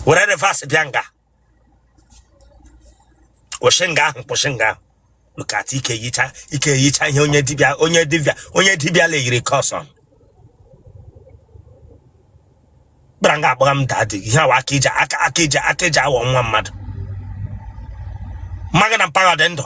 were reverse bịa nga kwụsị nga ahụ kwụsị nga ahụ look at ike yicha ike yicha ihe onye dibịa onye dibịa onye dibịa layiri curse on gbara nga akpọga m daddy ihe awa aka ije aka aka ije aka ije awọ nwa mmadụ mma gị na mpa gị dị ndụ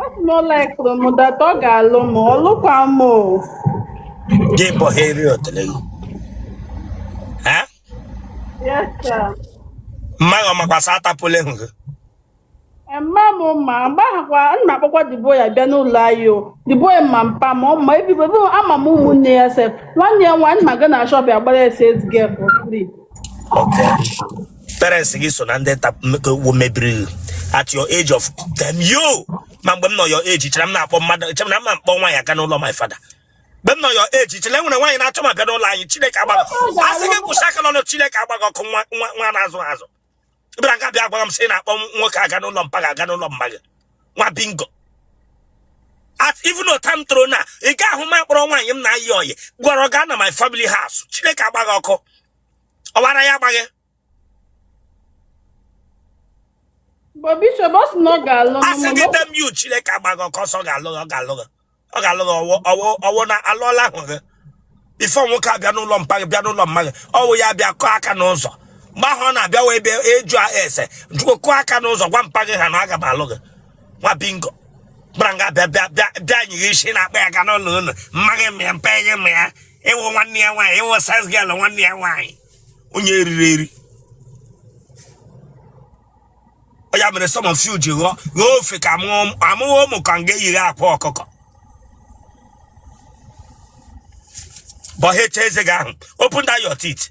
Ọ sị na ọ laikụrụ m that ọ ga-alụ m ọ lụkwa m o. Gị bụ ha eri otele gị. Ha? Yes sir. Mma gị ọ makwa sị atapule ahụ gị. Mma m ma mgbaghakwa na-akpọkwa the boy abịa n'ụlọ anyị o the boy ama mpa m ọ ma my people ama m ụmụnne ya sef nwanne ya nwaanyị m aga na shop ya gbara ya sales girl for free. Okay. parents gị so na ndị ta- m- wo- mebiri gị at your age of damn you ma mgbe m nọ your age chere m na-akpọ mmadụ chere m na m na-akpọ nwaanyị aga n'ụlọ my father mgbe m nọ your age chere enwere nwaanyị na-achọ m abịa n'ụlọ anyị chineke agba gị a sị gị kwụsị aka n'ọnụ chineke agba gị ọkụ nwa nwa nwa na-azụ azụ bịara nga bịa gwara m sị ị na-akpọ nwoke aga n'ụlọ mpa gị aga n'ụlọ mma gị nwa bingo at even otu a m toro now ị ga-ahụ m akpọrọ nwaanyị m na-ayị ọyị gwara ọ gaa na my family house chineke agba gị ọkụ ọwara ya agba gị a sị gị damn you chineke agba gị ọkụ ọ sị ọ ga-alụ gị ọ ga-alụ gị ọ ga-alụ gị ọ wụ ọ wụ ọ wụ na alụọla ahụ gị before nwoke abịa n'ụlọ mpa gị bịa n'ụlọ mma gị ọ wụ ya bịa kụọ aka n'ụzọ mgbe ahụ ọ na-abịa wee bịa ajụọ ese jụọ kụọ aka n'ụzọ gwa mpa gị ha na aga m alụ gị nwa bingo gbara nga bịa bịa bịa bịa nyighi isi na-akpọ ya aga n'ụlọ unu mma gị ma ya mpa gị ma ya ị wụ nwanne ya nwaanyị ị wụ sales girl nwanne ya nwaanyị onye eriri eri ya mere some of you ji ghọọ ghọọ ofe ka amụghị ụmụ ka nga eyiri akwa ọkụkọ bọhecha eze gị ahụ open that your teeth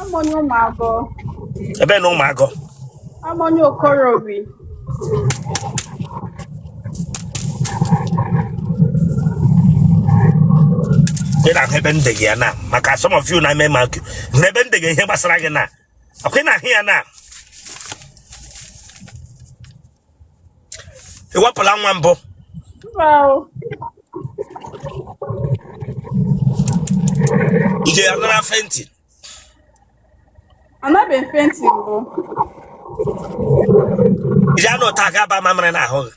Amoni Umago. Ebe na Umago. Amoni Okorobi. ị na-ahụ ebe ndị gị ya na maka some of you na eme maka na ebe ndị gị ihe gbasara gị na akwụ na-ahụ ya na ị wepụla nwa mbụ ije ya nara fenti anabeghị fenti mbụ ije anụ ụta ga-aba mamịrị n'ahụ gị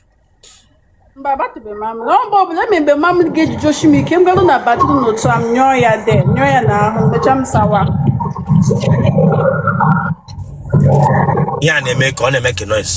mba abatụbe mamị na ọ mgbe ọbụla eme mgbe mamị ga-ejiji o shi m ike m garụ na bathroom otu a m nyụọ ya there nyụọ ya n'ahụ mecha m sawa ihe a na-eme ka ọ na-eme ka noise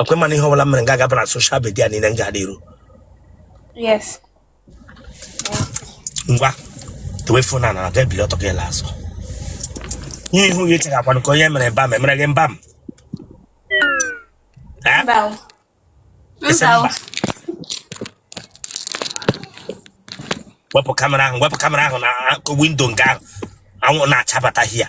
ọkwa ịma na ihe ọbụla mere nga agaba na soshal midia niile m ga-adị iru yes ngwa dowe fon a gị ebili ọtọ gị ele azụ ihe ihu ya echeghakwanụ ka onye mere mba m emere gị mba m Eh? mba o. Ese mba o. mba. wepụ kamera ahụ wepụ kamera ahụ n'akụkụ windo nke ahụ anwụ na-achabata hia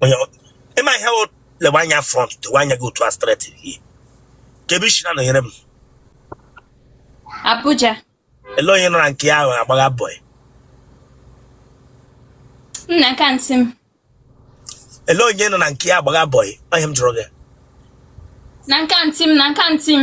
onye ịma ihe wụ lewe anya front lewe anya gị otu a straight ehe kee ebe isi na-anọnyere m Abuja ele onye ị nọ na nke ya agbagha bọị na nke antị m ele onye ị nọ na nke ya agbagha bọị ihe m jụrụ gị na nke antị m na nke antị m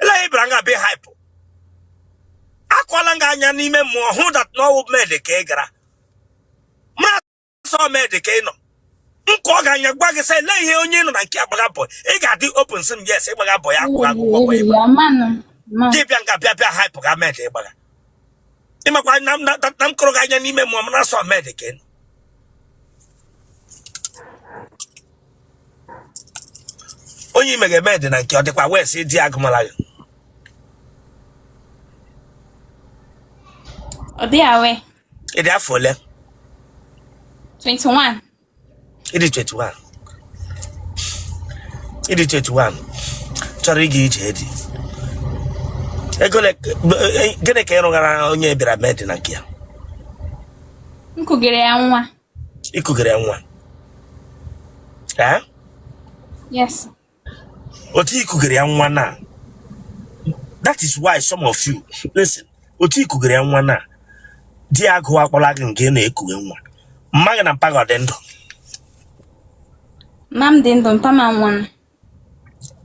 ele ihe ị bịara nga be hype akọla m gị anya n'ime mmụọ hụ dat na ọwụ med ka ị gara mara sọ med ka ị nọ m kọọ gị anya gwa gị sị ele ihe onye ị nọ na nke ya agbaga bọị ị ga-adị open sị m yes ịgbaga bọị ya akwụrụ akwụkwọ bọị ịgbaga ị bịa nga bịa bịa hype ga med ịgbaga ịmakwa na m na- na m kọrọ gị anya n'ime mmụọ mara sọ med ka ị nọ onye imeghe med na nke ya ọ dịkwa aware sị di ya agụmala gị Ọ dị aware ị dị afọ ole 21. ị dị 21 ị dị 21 chọrọ ịga ije di ego ole- gịnị ka ị rụghara onye ị bịara med na nke ya M kugere ya nwa. ikugere ya nwa yes otu ikugere ya nwa na that is why some of you listen otu ikugere ya nwa na di ya agụkpọla gị nga ị na-ekughe nwa mma gị na mpa gị ọ dị ndụ mma m dị ndụ mpa m anwụọla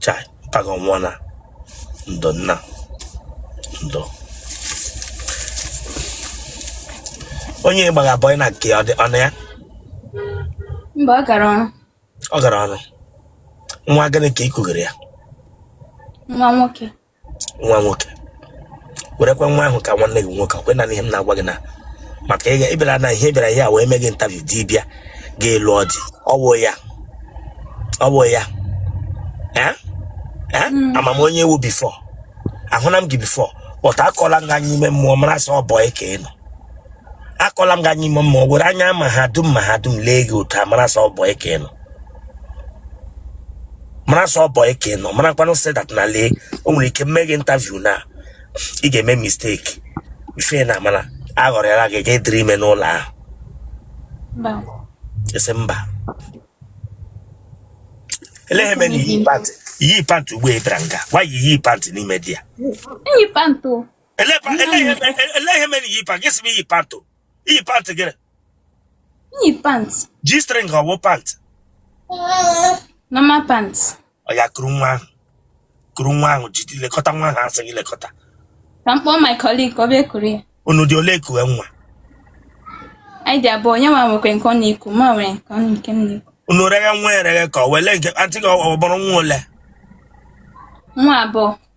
Chai, mpa gị anwụọna ndo nna ndo onye ịgbagha bọị na nke ya ọ nọ ya mba ọ gara ọrụ ọ gara ọrụ nwa gịnị ka ị kugere ya nwa nwoke nwa nwoke werekwa nwa ahụ ka nwanne gị nwoke ọkwa ịna-anụ ihe m na-agwa gị na maka ịbịara na ihe bịara hia wee mee gị intaviu di bịaga ịlụ ọdị ọwụ ya ọwụ ya hmm. ama m onye ị wụ bifọ ahụla m gị bifọ but akọla m gị anya n'ime mmụọ mara sọ bọị ka ị nọ akọla m gị anya ime mmụọ were anya ma ha dum ma ha dum lee gị otu a mara sị ọ boy ka ị nọ mara sị ọ boy ka ị nọ mara kwanụ sị that na lee o nwere ike mee gị interview na ị ga-eme mistake ife na amara aghọrịala gị ga-adịrị ime n'ụlọ ahụ Mba. ị sị mba ele ihe mere na iyi pant iyi pant ugbu a ị bịara nga gwa ya iyi pant n'ime dị ya Eyi m pant. ele ihe mere iyi pant gị sị m iyi pant o iyi pant gịnị iyi pant G-string ọ wụ pant normal pant ọ ya kuru nwa ahụ kuru nwa ahụ jide lekọta nwa ahụ a sị gị lekọta ka m kpọọ my colleague ka ọ bịa kuru ya unu dị ole eku nwa anyị dị abụọ onye nwa nwekwe nke ọ na-eku mụ nwere nke ọ nke m na-eku unu reghe nwa ereghe ka ọ wele nke aunty gị ọ mụrụ nwa ole nwa abụọ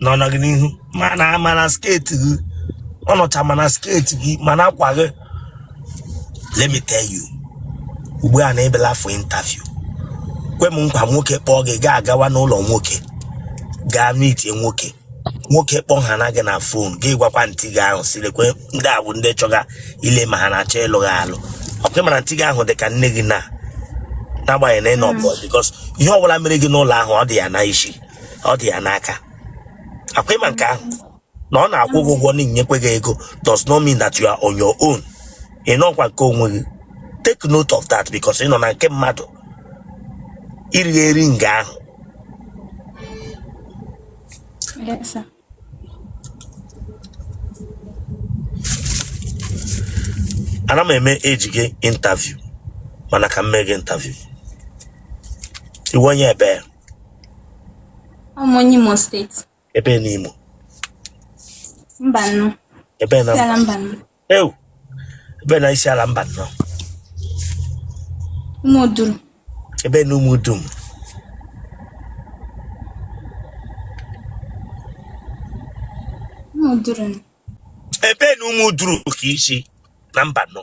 nọ na gị n'ihu mana mana skirt gị ọ nọcha mana skirt gị mana akwa gị let me tell you ugbu a na ị bịala for interview kwe m nkwa nwoke kpọọ gị gaa agawa n'ụlọ nwoke gaa meetie nwoke nwoke kpọọ ha na gị na phone gị gwakwa aunty gị ahụ sị lekwe ndị a bụ ndị chọga ile ma ha na-achọ ịlụ gị alụ ọkwa ị mara aunty gị ahụ dị ka nne gị na n'agbanyeghị na ị nọ boy because ihe ọbụla mere gị n'ụlọ ahụ ọ dị ya na isi ọ dị ya n'aka ọkwa ị ma nke ahụ na ọ na-akwụ gị ụgwọ na-enyekwe gị ego does not mean that you are on your own ị nọkwa nke onwe gị take note of that because ị nọ na nke mmadụ iri eri nga ahụ Yes, sir. ana m eme eji gị interview mana ka m mee gị interview ị wụ onye ebe ya A wụ m onye Imo State. ebe n'Imo Mbano. ebe na Isiala Mbano. ewu ebe na Isiala Mbano Ụmụduru ebe na ụmụ dum Ụmụduru ebe na Ụmụduru ka i si na Mbano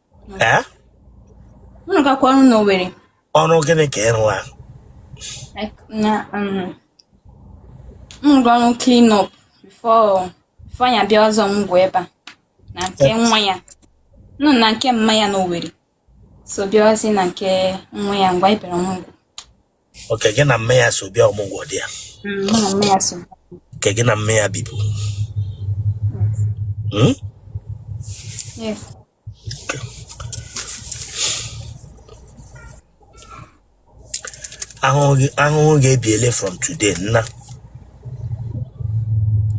ee m rụgakwa ọrụ na Owerri ọrụ gịnị ka ị rụwa Like, na um, m rụga ọrụ clean up before before ya bịazi ọmụgwọ ebe a na nke nwa ya nọ na nke mma ya na Owerri so bịawazi na nke nwa ya ngwa ị bịara ọmụgwọ okay gị na mme ya so bịa ọmụgwọ dị ya Mm, mụ na mme ya so okay gị na mme ya bibu Hmm? yes ahụhụ gị- ahụhụ ga-ebiele from today nna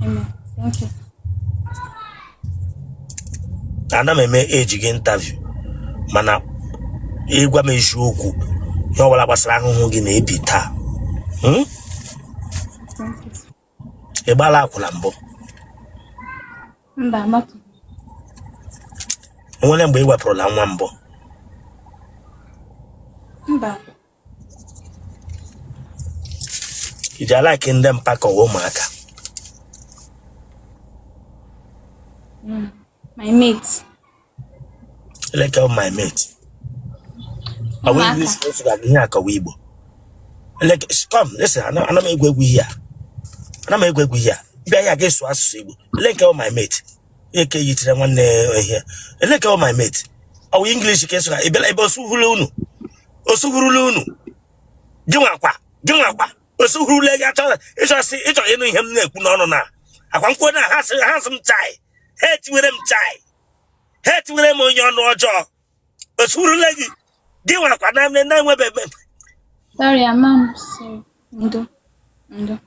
amen thank you ana m eme eji gị interview mana ị gwa m eziokwu ihe ọ bụla gbasara ahụhụ gị na-ebi taa Hmm? ị gbala akwụna mbụ mba agbatụ o nwere mgbe ị wepụrụla nwa mbụ mba ị ji alike ndị mpa ka ọ wụ ụmụaka Mm, my mate. eleke ọ my mate ọ bụ Ụmụaka. English ka esi aga here ka ọ wụ igbo eleke sh- come listen ana ana m egwu egwu here ana m egwu egwu here bịa here ga-esu asụsụ igbo eleke ọ my mate eke yitere nwanne ya here eleke ọ my mate ọ wụ English ka esụra ebela ebe osuhuru unu osuhurula unu gị nwakwa gị nwakwa osuhurula gị achọ ịchọsị ịchọ ịnụ ihe m na-ekwu n'ọnụ na ọkwa m kwuo na ha sị m chai ha etiwere m chai ha etiwere m onye ọnụ ọjọọ osuhurule gị gị nwakwa na nne na-enwebe ebe Sorry, I'm sorry ndo ndo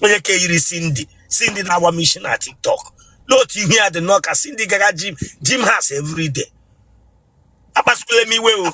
onye ka i yiri Cindy Cindy na-agba m isi na TikTok n'otu ihu ya dị nnọọ ka Cindy gaga gym house everyday akpasukwule m iwe o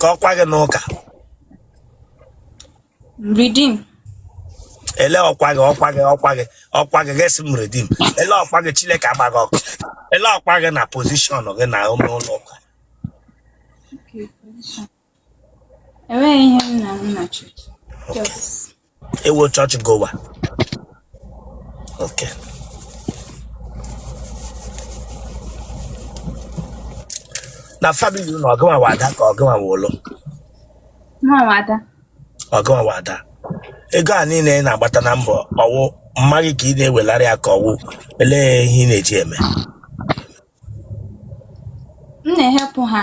ka ọkwa gị n'ụka redeem ele ọkwa gị ọkwa gị ọkwa gị ọkwa gị gesi m redeem ele ọkwa gị chineke agba gị ọkụ ele ọkwa gị na pozishọn gị na ụlọ ụka okay position enweghị ihe m wụ na chọọchị ị wụ chọọchị goer okay na famili unu ọ gịnwa wụ ada ka ọ gịnwa wụ ulu mụwa wụ ada ọ gịnwa wụ ada ego a niile ị na-agbata na mbọ ọ wụ mma gị ka ị na-ewelari ya ka ọ wụ olee ihe ị na-eji eme m na-ehelp ha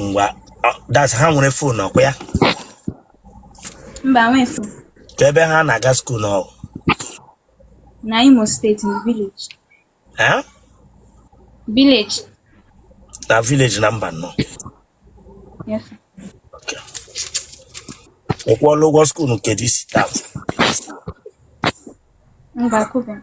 ngwa ọ- that's ha nwere fon ọkwa ya mba nwefu ka ebe ha na-aga skuul na ọ wụ na imo steeti na vileji Eh? vileji na vileji na Mbano yes ị kwụọla ụgwọ skuul nke this term mba kuba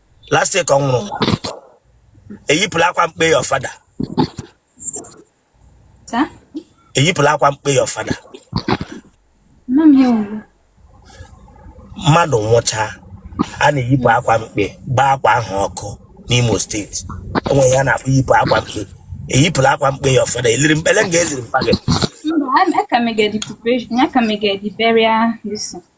last year ka ọ nwụrụ eyipụla akwa mkpe your father Sir? eyipụla akwa mkpe your father Mma m ya ugbu. mmadụ nwụchaa a na-eyipụ akwa mkpe gbaa akwa ahụ ọkụ n'Imo State e nwere ihe a na-akpọ iyipụ akwa mkpe eyipụla akwa mkpe your father e liri mpa ele nga e ziri mpa gị Mba, a- a ka na-eme the preparation, a ka na-eme the burial this thing.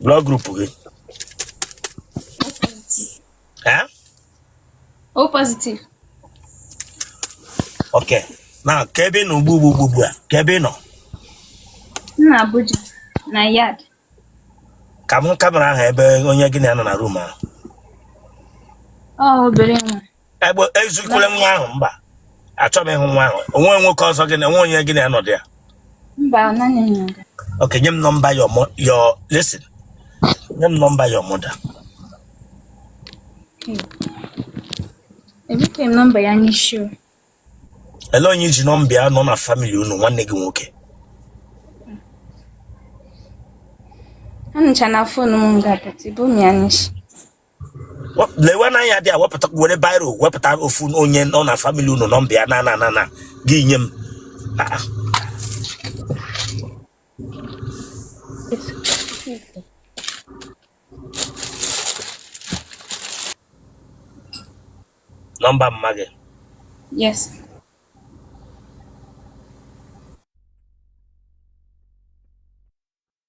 blood group gị eh? o positive ok now kee ebe ị nọ ugbu ugbu ugbu a kee ebe ị nọ na Abuja na yard ka m kamera ahụ ebe onye gị na ya nọ na room ahụ ọ obere nwa egbe ezikwala nwa ahụ mba achọghị m ịhụ nwa ahụ o nwe nwoke ọzọ gị na o nwe onye gị na ya nọ dị ya Mba, naanị nwa. okay nye m nọmba your mo- your listen nye m nọmba your mother Ebughị m nọmba ya n'isi o. ele onye i ji nọmba ya nọ na family unu nwanne gị nwoke Ha nọcha na phone m ga-apụta, ebughị m ya n'isi. lewe n'anya dị a wepụta were biro wepụta ofu onye nọ na family unu nọmba ya na na na na gị nye m Ah, ah. nọmba mma gị Yes.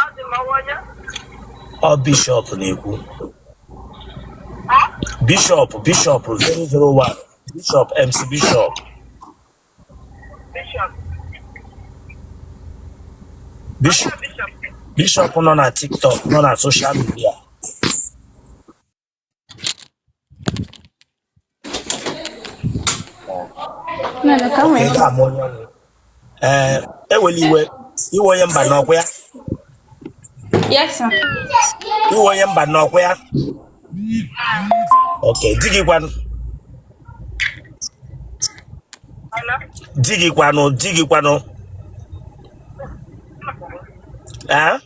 Adị m ọ wụ onye? Ọ Bishop na-ekwu. Ha? Bishop Bishop 001 Bishop MC Bishop. Bishop. Bishop Bishop. Bishop nọ na TikTok nọ na social media. ee ewela iwe ị wụ onye Mbano ọ kwa ya ị wụ onye Mbano ọ kwa ya ok di gị kwanụ di gị kwanụ di gị kwanụ ee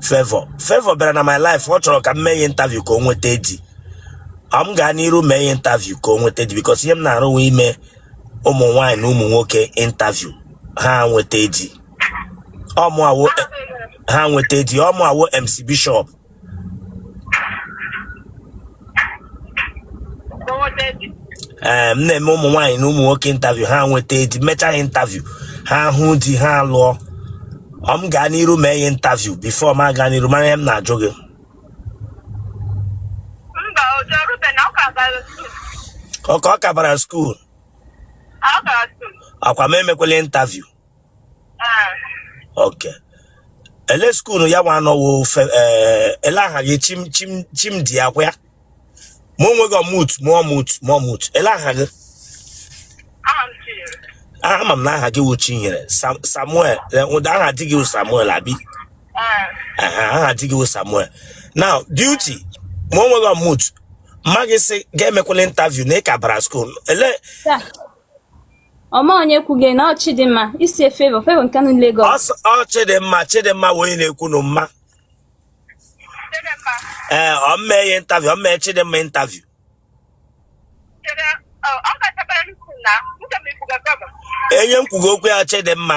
Favour Favour bịara na my live ọ chọrọ ka m mee ya interview ka o nweta di m gaa n'iru mee ya interview ka o nweta di because ihe m na-arụ wụ ime ụmụ nwaanyị na ụmụ nwoke interview ha nweta di ọ mụ ha nweta di ọ mụa wụ MC Bishop ee m na-eme ụmụ nwaanyị na ụmụ nwoke interview ha nweta di mechaa ha interview ha hụ di ha lụọ ọ m gaa n'iru mee ya interview before m aga n'iru mara ihe m na-ajụ gị Mba, o jerube na ọ ka gara skuul. ọ ka ọ ka bara skuul Ọ gara skuul. akwa m emekwela interview okay ele skuulu ya nwa anọwo ofe ee ele aha gị chim chim chimdi akwa ya mee onwe gị unmute mee unmute mee unmute ele aha gị ama m na aha gị wụ chinyere Sam- samuel eh, ụda aha di gị wụ samuel abi Aha, aha di gị wụ samuel now duty mee onwe gị unmute mma gị sị gị emekwala interview na ị ka bara skuulu ele ọ ma onye kwuge na ọ chidimma ị sị favour favour nke nọ Lagos ọ chidimma chidimma wụ onye na-ekwu nụ mma ee ọ m mee ya intaviu ọ m mee ya chidimma intaviu onye m kwuge okwu ya chidimma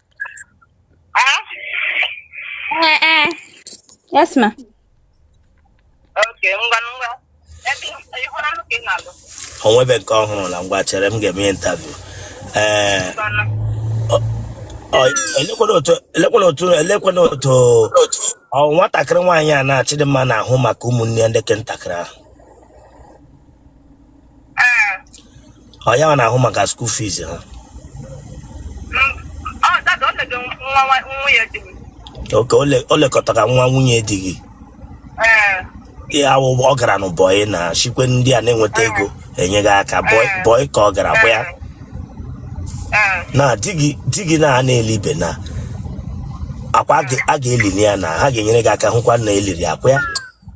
Yes, ma. Okay, ngwa ngwa. Ebe ihu na nke na-alụ. O nwebe nke ọ hụrụna ngwa chere m ga-eme interview. Eh. Elekwanụ otu elekwanụ otu elekwanụ otu ọ nwatakịrị nwaanyị a na ọ Chidimma na-ahụ maka ụmụnne ya ndị ke ntakịrị ahụ. ee ọ ya na-ahụ maka skuul fiz ha m- ọ dada ọ na-ege nwa nwa- nwunye di m okay o le- o lekọtara nwa nwunye di gị ee ihe a wụ ọ gara nụ bọị na chi kwe ndị a na-enweta ego enye gị aka bọị bọị ka ọ gara bụ ya ee na di gị di gị na a na-elibe na akwa a ga- a ga-elili ya na ha ga-enyere gị aka hụkwa na e liri akwa ya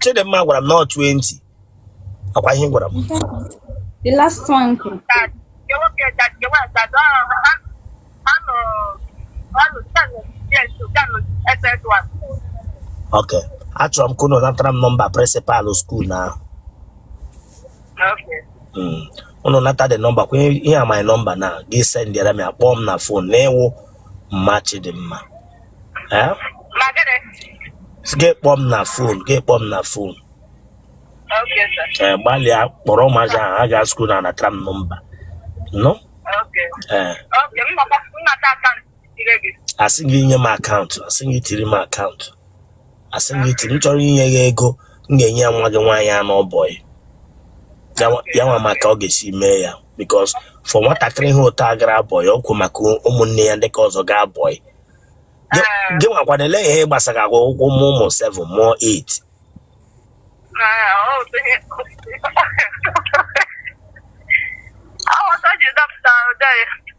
Chidimma gwara m na ọ 20 akwa ihe ị gwara m The last one kwuru. that the work that the work that uh, I'm I'm uh, I'm standing yes to come SS one. ok achọrọ m ka unu natara m nọmba prịnsịpalụ skuul nwa ahụ Okay. Mm. unu nata the nọmba kwa ihe a my nọmba na gị sendịara m ya kpọọ m na fon na ị wụ mma chidimma Eh? Ma gịnị? Gị kpọọ m na fon, gị kpọọ m na fon. Okay, sir. Eh, gbalịa kpọrọ ụmụazị ahụ ha gaa skuul na a natara m nọmba. Nụ? Okay. Eh, Okay, m nọkwa- m nata akaụntụ ire gị. asị gị nye m akaụntụ, asị gị tiri m akaụntụ. asị m gị tiri m chọrọ inye gị ego m ga-enye ya nwa gị nwaanyị a nọ bọyị ya nwa maka ọ ga-esi mee ya because for nwatakịrị ihe ụtọ a gara bọyị ọ wụ maka ụmụnne ya ndị ka ọzọ gaa bọyị gị gị nwakwana ele ihe gbasara agwa ụkwụ ịmụ ụmụ 7 mụọ 8 Aghọta ji dapụta ụdị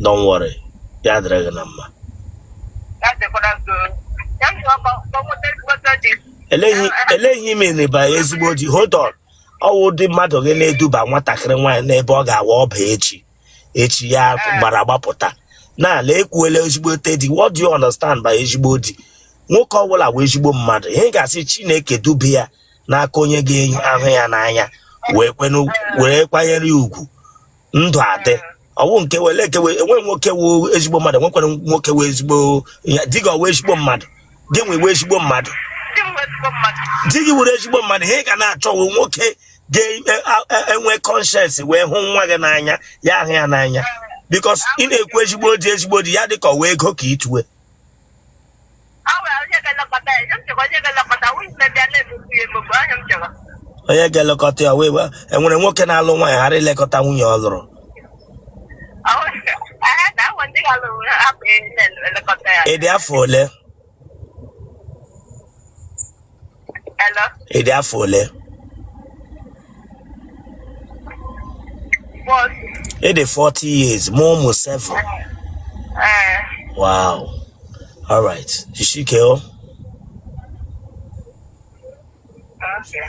Don't worry. Ya dịrị gị na mma. Elee ihe ị mean by ezigbo di hold on. Ọwụ ụdị mmadụ gị na-eduba nwatakịrị nwaanyị n'ebe ọ ga-awụ ọ baa echi. Echi ya gbara gbapụta. Na ala ekwuela ezigbote di. What do you understand by ezigbo di? Nwoke ọbụla wụ ezigbo mmadụ. Ihe ị ga-asị Chineke dube ya n'aka onye ga-ahụ ya n'anya wee kwanyere ya ugwu. ndụ adị ọwụ nke wele ekewe enwere nwoke wụ ezigbo mmadụ enwekwara nwoke wụ ezigbo di gị wụ ezigbo mmadụ gị nwa wụ ezigbo mmadụ di gị wụrụ ezigbo mmadụ ihe ị ga na-achọ wụ nwoke ga-enwe e, e, e, conscience wee hụ nwa gị n'anya ya ahụ ya n'anya because ị na-ekwu ezigbo di ezigbo di ya dịka ọ wụ ego ka ituwe onye ga-elekọta ya wee wee- enwere nwoke na-alụ nwaanyị ghara ilekọta nwunye ọ lụrụ ị dị afọ ole Hello? ị dị afọ ole Bọs. ị dị 40 years mụọ ụmụ 7 Ee. wow alright jisike o Okay.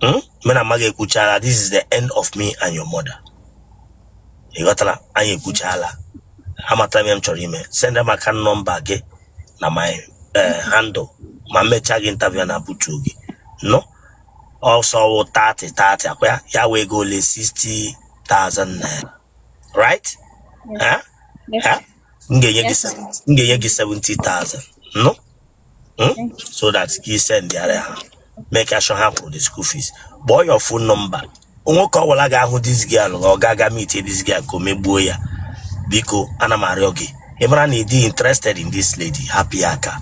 hmm? mụ na mama gị ekwuchala this is the end of me and your mother ị ghọtara anyị ekwuchala amatara m ihe m chọrọ ime send m account number gị na my eh, handle ma m mechaa gị interview na butu gị no ọ sị ọ wụ 30 30 ọkwa ya ya wụ ego ole 60,000 naira right Eh? Eh? m ga-enye gị 70 m ga-enye gị 70,000 no Hmm? so that ka i send ya ha make sure ha kwụrụ the school fees kpọọ your phone number nwoke ọbụla ga-ahụ this girl ọ ga-aga meet this girl ka o megbuo ya biko ana m arịọ gị ị mara na ị dị interested in this lady hapụ aka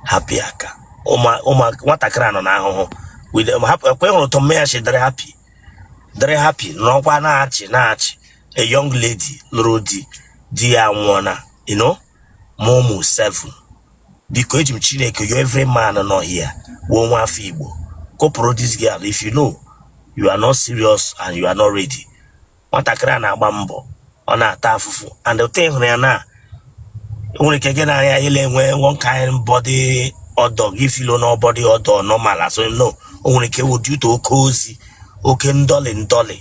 hapụ aka ụma ụma nwatakịrị a nọ n'ahụhụ with um, hap- ọkwa ị hụrụ otu mama ya shi dịrị happy dịrị happy nọkwa na-achị na-achị a young lady lụrụ di di ya nwụọna you know Mumu Seven biko eji m Chineke yọ every man nọ here wụ nwa afọ Igbo kụpụrụ this girl if you know you are not serious and you are not ready nwatakịrị a na-agba mbọ ọ na-ata afụfụ and the thing ị hụrụ ya na nwere ike gị na ya ile enwe one kind body odor gị filo na body odor normal asọ no o nwere ike wụ due to oke ozi oke ndọlị ndọlị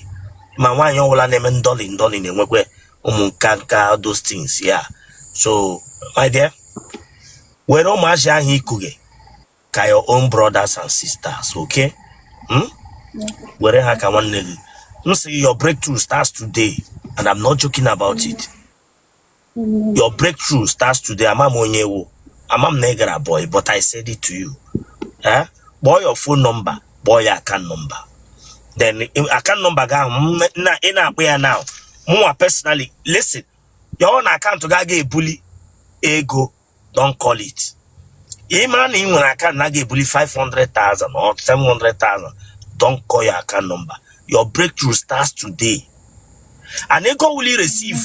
ma nwaanyị ọbụla na-eme ndọlị ndọlị na-enwekwe ụmụ nkanka all those things yeah so my dear were ụmụazị ahụ i kuge ka your own brothers and sisters okay hmm? were ha ka nwanne gị m sị gị, your breakthrough starts today and I'm not joking about it your breakthrough starts today ama m onye ị wụ ama m na ị gara boy but I said it to you eh? kpọọ your phone number kpọọ your account number then account number gị ahụ ị na-akpọ ya now mụnwa personally listen ya wụ na akaụntụ gị aga ebuli ego don't call it ị mara na ị nwere akaụntụ na aga ebuli 500,000 or 700,000 don't call your account number your breakthrough starts today and ego you will receive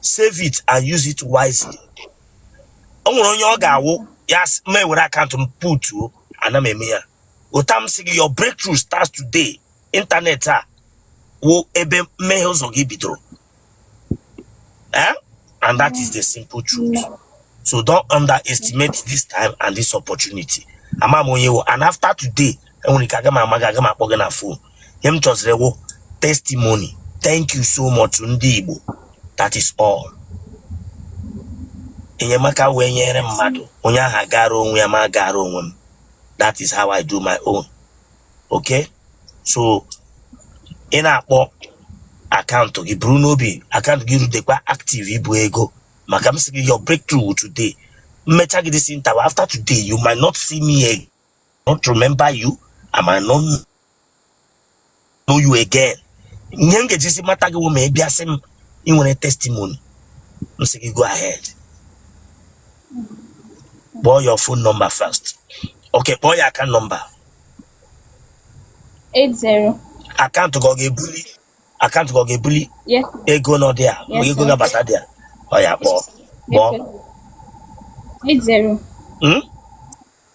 save it and use it wisely o nwere onye ọ ga-awụ ya sị, m were akaụntụ m putuo ana m eme ya otu a m sị gị your breakthrough starts today ịntanetị a wụ ebe mmehe ụzọ gị bidoro eh? and that is the simple truth so don't underestimate this time and this opportunity ama m onye ị wụ and after today enwere ike aga m ama gị aga m akpọ gị na fon ihe m chọziri wụ testimony thank you so much ndị Igbo that is all enyemaka wee nyere mmadụ onye ahụ gara onwe ya m agara onwe m that is how I do my own okay so ị na-akpọ akaụntụ gị buru n'obi akaụntụ gị rudekwa active ibu ego maka m sị gị your breakthrough today m mechaa gị this interview after today you might not see me again not remember you I might not know you again ihe m ga-ejizi mata gị wụ ma ị bịa sị m ị nwere testimony m sị gị go ahead kpọọ your phone number first okay kpọọ your account number 80 akaụntụ gị ọ ga-ebuli akaụntụ gị ọ ga-ebuli yes ego nọ there ma Yes, ego sir. ga-abata there oya kpọọ kpọọ 80 Hmm?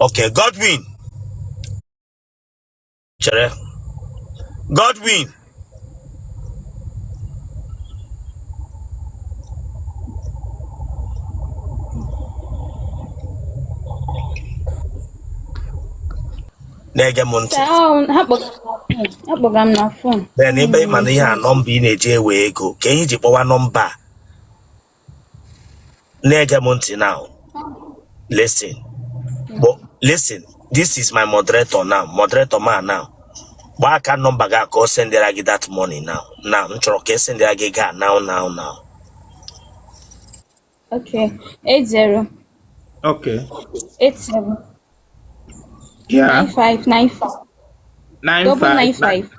Okay, Godwin. Chere. Godwin. na-ege m ntị akpọga m na fon then ebe ị ma na ihe a nọmba ị na-eji ewe ego ka anyị ji kpọwa nọmba a na-ege m ntị now listen Gbo- listen this is my moderator now moderator man now gbaa account number gị ka o sendịra gị that money now now m chọrọ ka e sendịra gị ya now now now Okay. Eight zero Okay. eight seven Yeah. nine five nine five Nine double nine five. five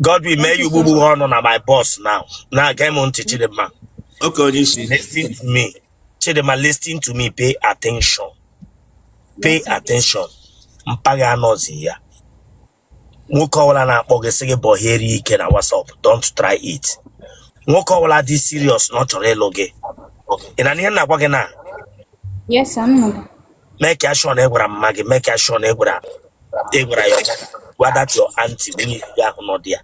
Godwin mee ya ugbu ugbu ọ nọ na my box now na-ege m ntị Chidimma Okay, onye isi. listen to me Chidimma listen to me pay attention pay Yes, sir. attention mpa gị anọzi ya nwoke ọbụla na-akpọ gị sị gị bọheere ike na WhatsApp don't try it nwoke ọbụla dị serious na ọ chọrọ ịlụ gị ị na-anụ ihe m na-agwa gị na Yes, sir. Nnọọ. make sure na ị gwara mma gị make sure na ị gwara ị gwara ya or gwa that your aunty nwunye gị ahụ nọ dị ya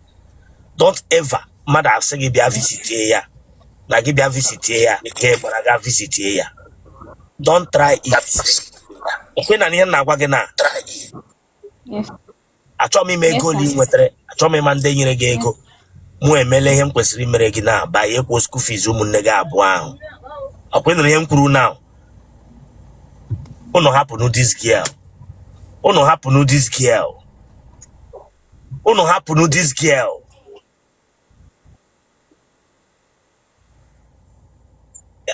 don't ever mmadụ asị gị bịa visitie ya na gị bịa visitie ya ka ị gbara ga visitie ya don't try it ọkwa ị na-anụ ihe m na-agwa gị na Yes. achọghị m ịma ego ole ị nwetara achọghị m ịma ndị nyere gị ego mụ emela ihe m kwesịrị imere gị na banye kwụọ school fees ụmụnne gị abụọ ahụ ọkwa ị nụrụ ihe m kwuru now ụnụ hapụnụ this girl ụnụ hapụnụ this girl ụnụ hapụnụ this girl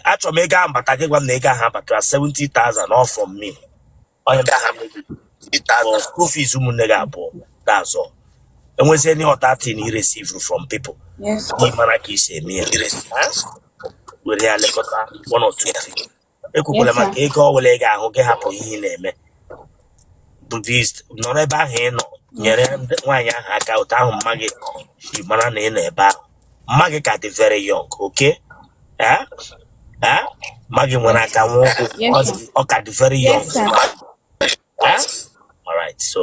achọrọ m ego ahụ bata gị gwa m na ego ahụ abatara 70,000 all from me onye ndị agha mmiri ịta aka school fees ụmụnne gị abụọ that's all e nwezie any other thing you receive from people Yes. ị mara ka ị si eme ya Ha? were ya lekọta one or two things. ekwekwala Yes, sir. maka ego ọbụla ị ga-ahụ gị hapụ ihe ị na-eme bụ this nọrọ ebe ahụ ị nọ nyere ndị- nwaanyị ahụ aka otu ahụ mma gị ji mara na ị nọ ebe ahụ mma gị ka dị very young okay eh? Eh? mma gị nwere aka nwee ụkwụ Yes, ọ sir. dị- ọ ka dị very young Yes, sir. Eh? all right so